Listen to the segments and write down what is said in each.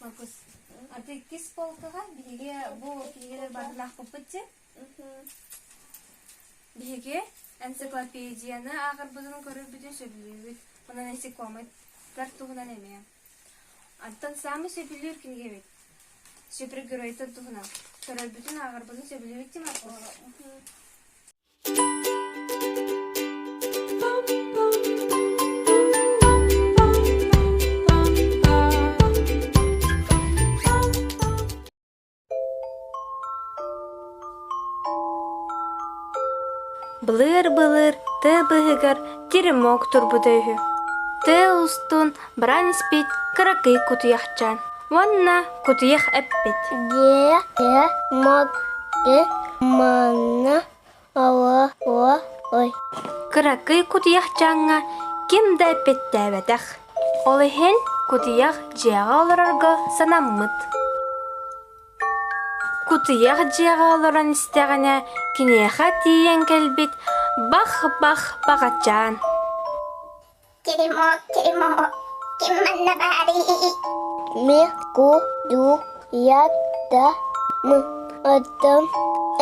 Маркус, а ты иккис полкаҕа биһиги бу киһилэр барылаахпыппыт син биһиги энциклопедияны ааҕарбытын көрөрбүтүн сөбүлүүбүт онон насекомоттар туһунан эмиэ оттон самый сөбүлүүр кинигэбит супергеройтар туһунан көрөрбүтүн ааҕарбытын сөбүлүүбүт ти маркус Былыр-былыр тыы быһыгар теремок турбута үһү. Тыы устун баран испит кыракый кутуйахчаан уонна кутуйах эппит Дьиэ модды манна ой Кыракый кутуйахчааҥҥа ким да эппиэттээбэтэх. Ол иһин кутуйах дьиэҕэ олорорго санаммыт. Кутуйах дьиэҕэ олорон истэҕинэ киниэхэ тиийэн кэлбит бах-бах баҕачаан. Ким манна баарый? Мин куйдуйам да мадам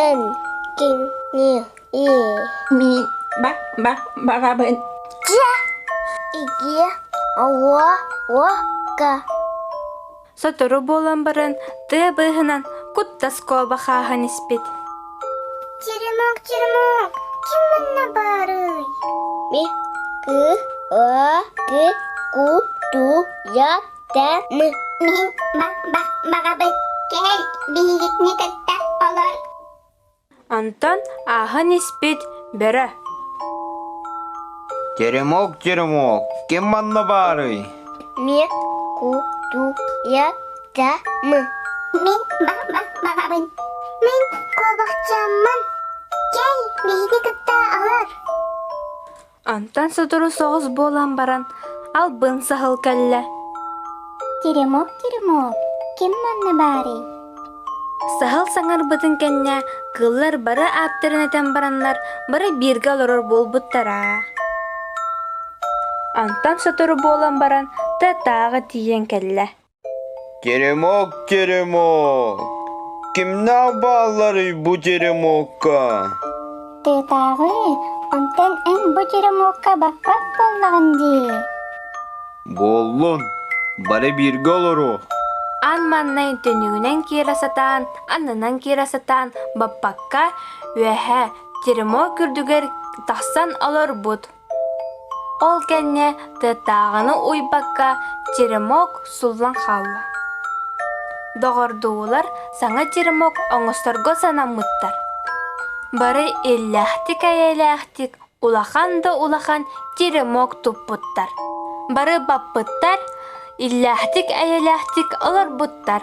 энгинье. Мин бабабын. Дьэ, иги аллаһка Сотору буолан баран тыа быыһынан куттас куоба хааһан испит Черемух, Черемух, ким манна баарый? Ми, ку, о, ку, ку, ту, я, та, мы. Мин ба, ба, баҕабыт кэл, биһигитини кытта олор Онтон ааһан испит бөрө «Теремок, теремок, ким манна баарый?» «Мен кутуятамын». «Мен бабам-бабабын». «Мен куобахчаммын». «Чэй биһиги кытта алар». Онтон сотору соҕус буолан баран албын саһыл кэллэ. Теремок, Теремок, ким манна баарый? Саһыл саҥарбытын кэннэ кыыллар бары ааттарын этэн бараннар бары бииргэ олорор буолбуттара. Онтон сотору буолан баран Т-тааҕы тиийэн кэллэ. Теремок, теремок, кимнээх баалларый бу теремокка? Тыатааҕы, онтон эн бу теремокка баппат буоллаҕын дии. Буоллун, бары бииргэ олоруо. Ан маннай төнүгүнэн киирэ сатаан, аннынан киирэ сатаан баппакка, үөһэ теремок үрдүгэр тахсан олорбут. Ол кэннэ тыаттааҕыны уйбакка черемок суллан хаалла. Доҕордуулар саҥа черемок оҥосторго санаммыттар. Бары иллээхтик-эйэлээхтик улахан да улахан черемок туппуттар. Бары баппыттар, иллээхтик-эйэлээхтик олорбуттар.